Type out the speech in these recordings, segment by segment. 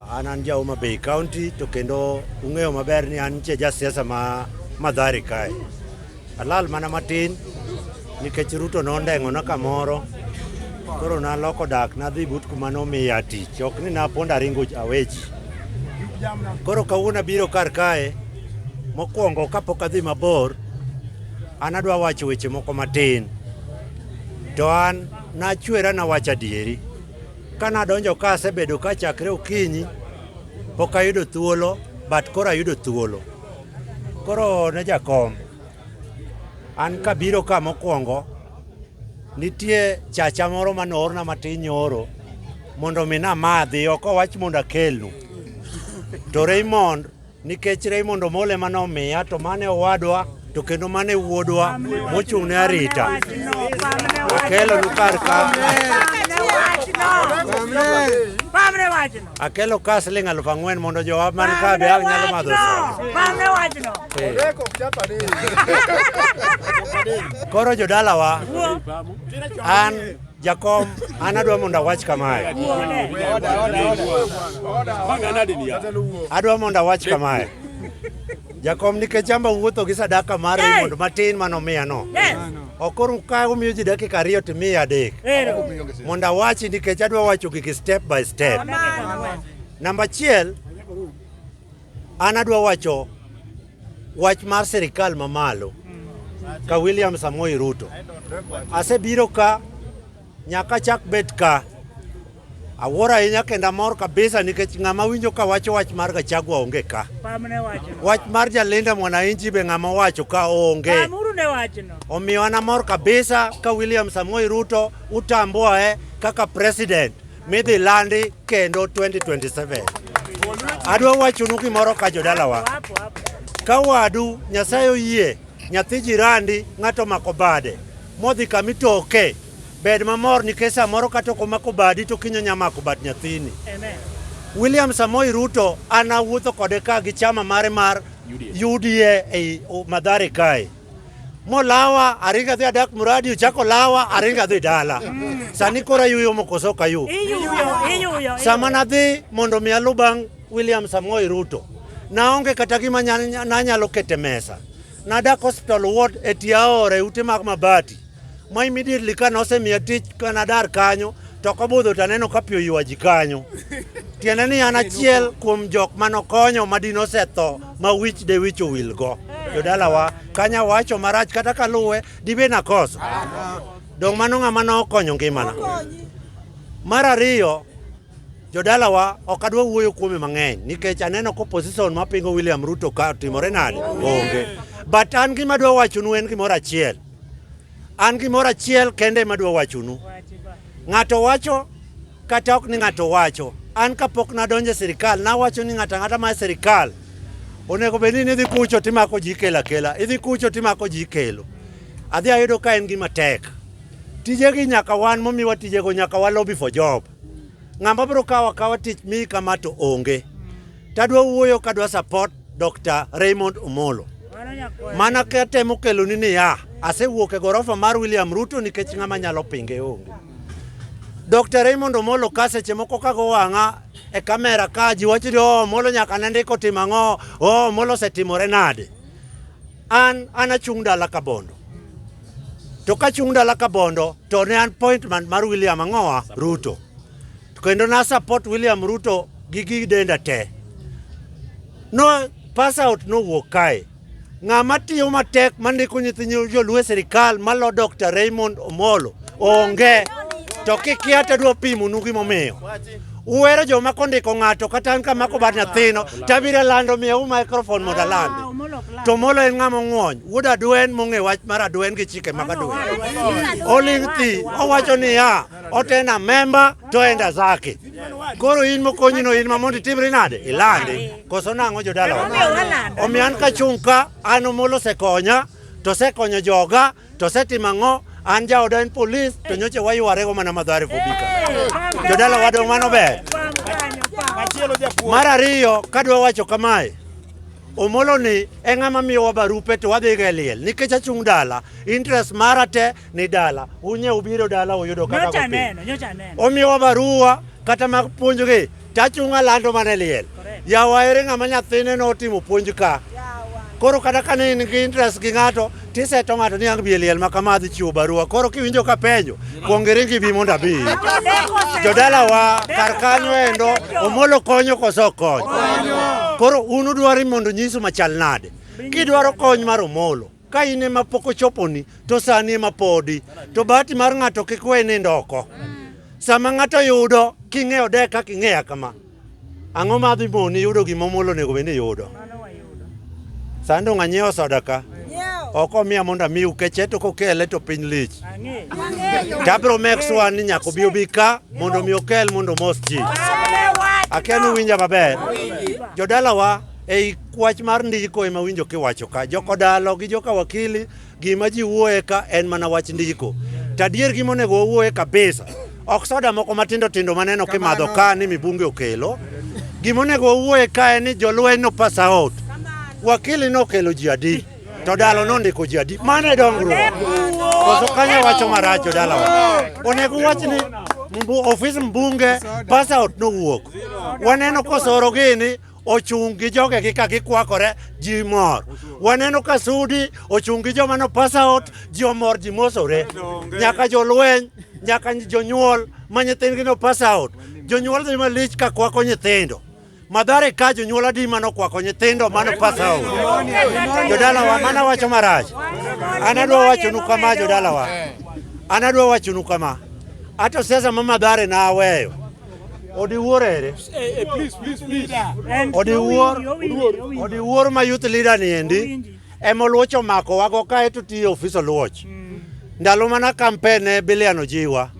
An an ja Homa Bay County to kendo ung'eyo maber ni an che jasiasa ma madhari kae. Alal mana matin nikech Ruto nondeng'ona kamoro koro naloko dak nadhi but kuma nomiya tich ok ni napondo aringo aweji. Koro kawuono abiro kar kae mokwongo kapok adhi mabor an adwa wacho weche moko matin to an nachwera nawacho adieri. Ka nadonjo ka asebedo ka chakre okinyi, pok ayudo thuolo, but koro ayudo thuolo. Koro ne jakom, an kabiro ka mokwongo, nitie chacha moro mane oorna matin nyoro mondo mi namadhi, ok owach mondo akelnu. To Raymond Nikech Raymond Omolo ema nomiya to mane owadwa to kendo mane wuodwa mochung' ne arita akelo nu kar ka akelo ka siling' aluf ang'wen mondo jowa man ka be ang' nyalo madho koro jodalawa an Jakom, an adwa mondo awach kamae. Adwa mondo awach kamae. Jakom, nikech amba wuotho gi sadaka mar hey. mondo matin mano miya no. Yes. Okoro ka umiyo ji dakika ariyo to miya adek. Mondo awachi nikech adwa wacho gigi step by step. Namba achiel, An adwa wacho wach mar sirikal mamalo ka William Samoei Ruto. Asebiro ka nyaka chak bet ka awuoro ahinya kendo amor kabisa nikech ng'ama winjo ka wacho wach mar Gachagua onge ka. Wach mar Jalinda Mwananchi be ng'ama wacho ka onge. Omiyo an amor kabisa ka William Samoei Ruto utamboe kaka president midhi landi kendo 2027. Adwa wachonu gimoro ka jodalawa, ka wadu Nyasaye oyie nyathi jirandi ng'ato mako bade modhi kama itoke, bed mamor nikech samoro kata ok omako badi to kinyo nya mako bad nyathini. William Samoei Ruto an awuotho kode ka gi chama mare mar UDA ei Mathare kae. molawa aringo adhi adak muradi ochako lawa aringo adhi dala sani koro ayuyo mokoso ok ayu sama nadhi mondo mi alu bang' william samoei ruto naonge kata gima nanyalo kete mesa nadak hospital ward e tiaore ute mag mabati ma immediately ka nosemiya tich ka nadar kanyo to kobudho to aneno ka pi oywa ji kanyo tiende ni an achiel kuom jok mane okonyo ma dine osetho ma wich de wich owilgo jodalawa kanya wacho marach kata kaluwe dibe nakoso dong' mano ng'ama nokonyo ngimana mar ariyo jodalawa ok adwa wuoyo kuome mang'eny nikech aneno ko position mapingo William Ruto ka timore nade onge but an gima adwa wachonu en gimoro achiel An gimoro achiel kende ema adwa wachonu. Ng'ato wacho kata ok ni ng'ato wacho. An kapok nadonjo e sirikal nawacho ni ng'ato ang'ata ma e sirikal onego bed ni idhi kucho timako ji ikelo akela, idhi kucho timako ji ikelo. Adhi ayudo ka en gima tek. Tijegi nyaka wan momiwa tijego nyaka wa lobby for job. Ng'ama biro kawo akawa tich miyi kama to onge. Tadwa wuoyo kadwa support Dr. Raymond Omolo. Mana ka temo kelo ni niya, asewuok e gorofa mar William Ruto nikech ng'ama nyalo pinge onge. Dr. Raymond Omolo ka seche moko kago wang'a e kamera ka ji wacho ni oh, Omolo nyaka ne ndiko timo ang'o, oh, Omolo osetimore nade. An an achung' dala ka bondo. To ka achung' dala ka bondo to ne an appointment mar William Ang'owa Ruto. To kendo na support William Ruto gi gi denda te. No pass out no wuok kae. Ng'ama tiyo matek mandiko nyithinyo joluo e sirikal malo Dr. Raymond Omolo onge to kikia to adwa pimonu gimomiyo uwero joma kondiko ng'ato kata an kamako bad nyathino tabiro lando miyawu microphone mondo alandi to Omolo en ng'ama ong'wony wuod Adwen mong'e wach mar Adwen gi chike mag Adwen oling' thi owacho niya otena memba to enda zake. Koro in mokonyi no in mamondi timri nade? Ilandi. Koso nang'o jodala wa? Omiyo an kachung' ka an omolo sekonya to sekonyo joga to setimo ang'o an jaoda en polis to nyocha waywarego mana madhare kobika. Jodala wadong' mano ber. Mar ariyo kadwa wacho kamae Omolo ni e ng'ama miyowa barupe to wadhiga e liel nikech achung' dala interest mara te ni dala unye ubiro dala uyudo kaka nyocha kopiny. aneno nyocha aneno omiwa barua kata mag puonjgi tachunga lando mane liel Correct. yawa ere ng'ama nyathine notimo puonj ka koro kata ka ne in gi interest gi ng'ato tiseto ng'ato ni ang' bi e liel ma kama adhi chiwo barua koro kiwinjo ka penjo kuong iringi bi mondo abi jodalawa kar kanyo endo omolo konyo koso ok konyo koro un udwari mondo nyisu machal nade kidwaro kony mar omolo Ka in ema pok ochoponi, to sani ema podi. To bahati mar ng'ato kik we nindo oko. Sama ng'ato yudo, king'eyo de kaka ing'eya kama, ang'o ma dhi moni yudo gima omuol onego bed ni yudo? Sani dong' anyiewo soda ka, ok omiya mondo amiu keche to kokele to piny lich. Tabro make sure ni nyaka obi obi ka mondo mi okel mondo omos ji. Akia ni uwinja maber. Jodalawa Ei kwach mar ndiko ema winjo kiwacho ka jokodalo gi joka wakili gima ji wuoye ka en mana wach ndiko. To adier gima onego wawuoye kabisa ok soda moko matindo tindo maneno kimadho ka ni mibunge okelo. Gima onego wawuoye ka en ni jolweny no pass out. Wakili nokelo ji adi to dalo nondiko ji adi. Mano e dongruok. Koso kanyo wacho marach jodalawa. Onego uwach ni mbu- ofis mbunge pass out nowuok. Waneno kosoro gini ochung' gi jogegi ka gikwakore, ji mor. Waneno ka Sudi ochung' gi joma no pass out, ji omor, ji mosore. Nyaka jolweny, nyaka jonyuol ma nyithindgi no pass out. Jonyuol dhi malich ka kwako nyithindo. Madhare ka jonyuol adi mano kwako nyithindo mano pass out. Jodalawa, mana wacho marach. An adwa wachonu kama jodalawa. An adwa wachonu kama. Ato siasa ma madhare na aweyo. Odiwuor ere? Odiwuor, odiwuor ma youth leader ni endi ema oluoch omako wago kae to tiyo ofis oluoch. Mm. Ndalo mana kampen ne Bilian Ojiwa.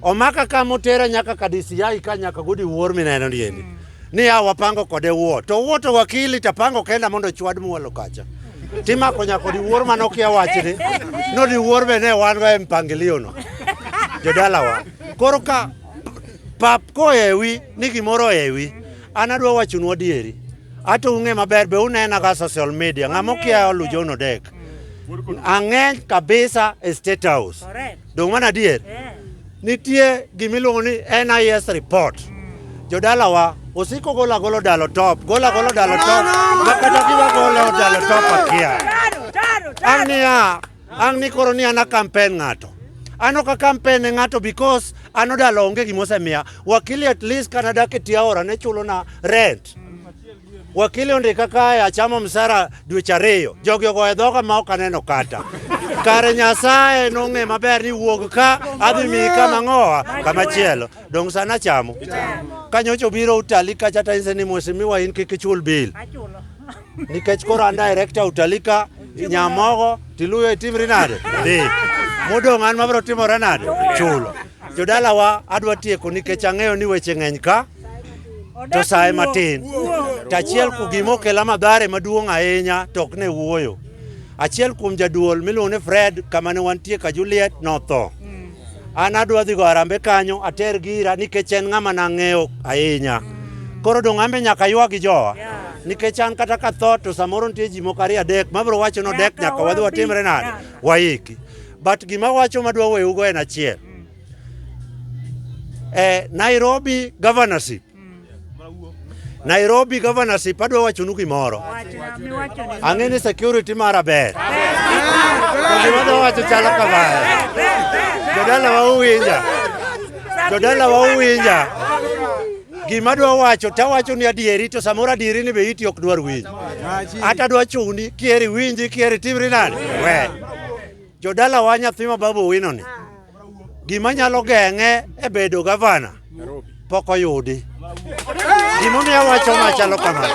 Omaka ka motera nyaka ka DCI ka nyaka gudi wuor mineno ni endi. Mm. Ni ya wapango kode wuo. To wuo to wakili tapango kenda mondo chwad muolo kacha. Timako nyako di wuor manokia wachni. No di wuor be ne wan go e mpangilio no. Jodalawa. Koro ka pap koewi ni gimoro oewi, an adwa wachonu adieri. Ato ung'e maber be unena ka social media. Ng'ama okia olu John Odek. Ang'eny kabisa e State House. Correct. Dong' mana adier. Eh. Nitie gimiluongo ni NIS report. Jodalawa osiko gola golo dalo top, gola golo dalo top, makata giwa golo dalo top akia. Taro, taro, taro. Ang'nia Ang' ni koro ni an akampen ng'ato. An ok akampen ne ng'ato because an odalo onge gima osemiya. Wakili at least kana dak e tie aora ne chulona rent. Wakili ondika kae achamo msara dweche ariyo. Jogi ogoyo dhoga ma ok aneno kata. Kare Nyasaye nong'e maber ni wuog ka adhi miyi kama ng'owa kama chielo. Dong' sana achamo. Kanyocha obiro utali kacha ta inse ni mheshimiwa in kik ichul bill. nikech koro an director Utalika Nyamogo Tiluyo itim rinade dhi modong' an mabiro timo renade chulo jodalawa adwa tieko nikech ang'eyo ni weche ng'eny ka to sae matin to achiel ku gima okela madhare maduong' ahinya to ok ne wuoyo achiel kuom jaduol miluongo ni Fred kama ne wantie ka Juliet notho An adwa dhi go arambe kanyo ater gira nikech en ng'ama nang'eyo ahinya. Koro donge ambe nyaka ywag gi jowa? Nikech an kata ka tho to samoro nitie ji moko ariyo adek ma biro wacho ni odek Nyaka nyaka wadhi watim. watimre nade? Waiki. But gima wacho madwa weyugo en achiel. Eh, Nairobi governorship Nairobi governorship adwa wachonu gimoro. Ang'e ni security mara ber. To gima adwa wacho chalo kama. Jodala wa uwinja. Jodala wa uwinja. Gima adwa wacho tawacho ni adieri to samoro adieri ni be iti ok dwar winji. Ata adwa chuni kieri winji kieri timri nani? We. Jodala wa nyathi ma babu winoni. gima nyalo geng'e e bedo gavana pok oyudi. Gimomiyo awacho ma chalo kama,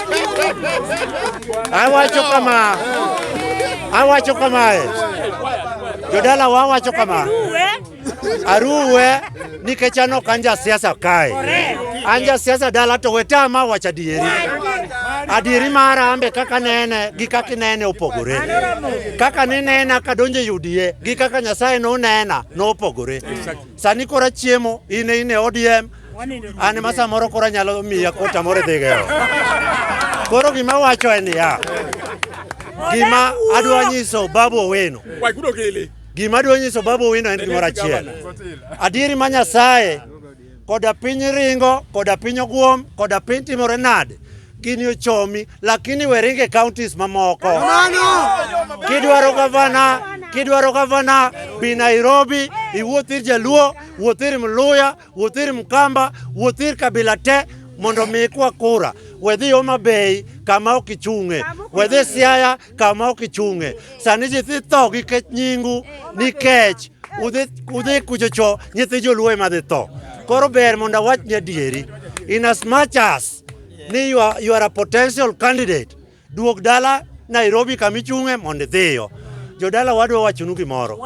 awacho kama, awacho kamae, jodala wa awacho kama, aruwe nikech an ok an ja siasa kae, an ja siasa dala to wetama wacho adieri, adieri mara ambe kaka nene gi kaka inene opogore. Kaka ninena kadonjo e UDA gi kaka Nyasaye nonena nopogore. Sani kora chiemo in in e ODM an ma samoro kora nyalo miya kota moro dhi gero. Koro gima wacho en ya. Gima adwa nyiso Babu Owino. Gima adwa nyiso Babu Owino en gimoro achiel. Adieri ma Nyasaye koda piny ringo koda piny ogwom koda piny timore nade gini ochomi lakini we ringe counties mamoko kidwaro gavana kidwaro gavana bi nairobi iwuoth ir jaluo wuoth ir mluya wuoth ir mkamba wuoth ir kabila te mondo mi ikwa kura wedhi homa bay kama ok ichung'e wedhi siaya kama ok ichung'e. Sani ji dhi tho nikech nyingu, nikech udhi udhi kuchocho nyithi joluo ema dhi tho. Koro ber mondo awach ni adieri. In as much as ni you are, you are a potential candidate, duog dala Nairobi kama ichung'e mondo idhiyo. Jodala wadwa wachonu gimoro.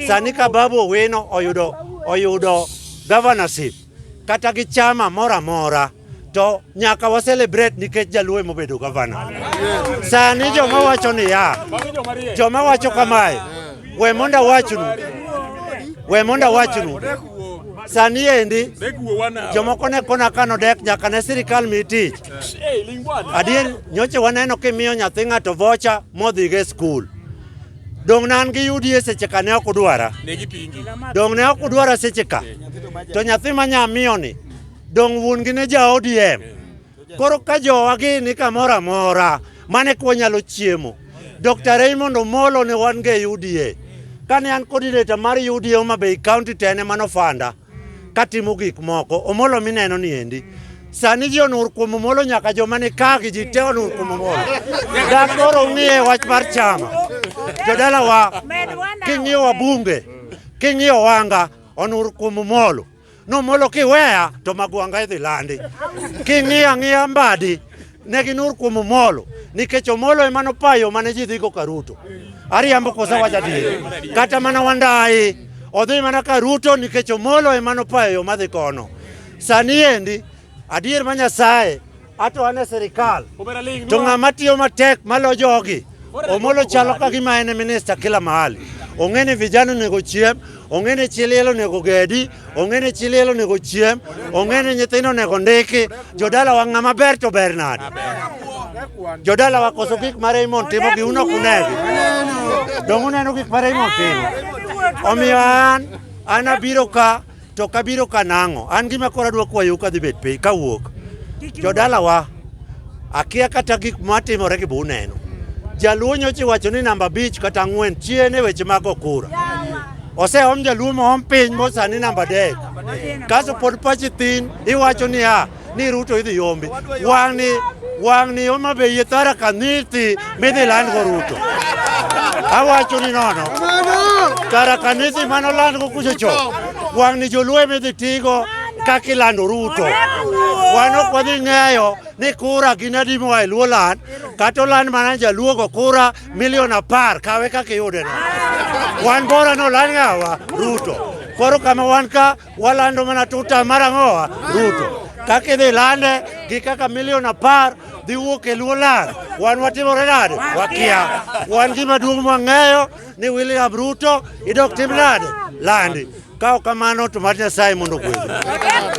Sani ka Babu Owino oyudo oyudo governorship kata gi chama moro amora to nyaka wa celebrate nikech jaluo ema obedo gavana. Sani joma wacho ni ya joma wacho kamae, we mondo awachnu, we mondo awachnu sani endi jomoko ne kona kano dek nyaka ne sirikal mi tich. Adier nyoche waneno kimiyo nyathi ng'ato vocha modhigo e skul. Donge an gi yudi e seche ka ne ok udwara? Donge ne ok udwara seche ka? To nyathi ma nyamiyo ni, donge wuon gi ne ja ODM? Koro ka jowa gi ni kamoro amora, mane kwa nyalo chiemo. Dr. Raymond Omolo ne wan go e UDA. Kane an coordinator mar UDA Homa Bay County to en ema nofanda. katimo gik moko. Omolo mineno ni endi. Sani ji onur kuom Omolo nyaka joma ni ka gi ji te onur kuom Omolo. Dak koro ung'iye wach mar chama. Jodalawa king'iyo wabunge, king'iyo wanga onur kuom Omolo. Nomolo kiweya to magwanga idhi landi. King'iyo ang'iya mbadi Ne ginur kuom Omolo nikech Omolo ema nopayo mane ji dhigo ka Ruto. Ariambo koso wacha adier. Kata mana Wandayi odhi mana ka Ruto nikech Omolo ema nopayo yo madhi kono. Sani endi adier ma Nyasaye ato an e sirikal to ng'ama tiyo matek malo jogi Omolo chalo ka gima en e minista kila mahali. Ong'e ni vijana onego chiem, ong'e ni chi liel onego gedi, ong'e ni chi liel onego chiem, ong'e ni nyithindo onego ndiki. Jodala wa ng'ama ber to ber nade? Jodala wa koso gik ma Raymond timo gi uno kunegi. Dongu neno gik ma Raymond timo. Omiyo an, an abiro ka, to kabiro ka nang'o? An gima kora dwa kwayo ka dhi bet piny, ka wuok. Jodala wa. akia kata gik matimore gi buneno. Jaluo nyocha iwacho ni namba abich kata ang'wen chien e weche mag okura. Oseom jaluo moom piny mosani namba adek. Kaso pod pachi thin iwacho niya ni Ruto idhi yombi. Wang'ni wang'ni Homa Bay e Tharaka Nithi midhi landgo Ruto. Awacho ni nono kara kanisi mano landgo kucho cho wang' ni joluo midhi tigo kaka ilando Ruto. Wan ok wadhi ng'eyo ni kura gin adi moa e luo land kata oland mana jaluogo kura milion apar kawe kaka iyudeno. Wan bora noland ng'awa Ruto. Koro kama wan ka Walando mana tuta mar ang'owa Ruto kaka idhi lande gi kaka milion apar dhi wuok e luo land. Wan watimore nade? Wakia. Wan gima duong' mwang'eyo ni William Ruto idok tim nade? Landi. Ka ok kamano to mad Nyasaye mondo ogwedhi.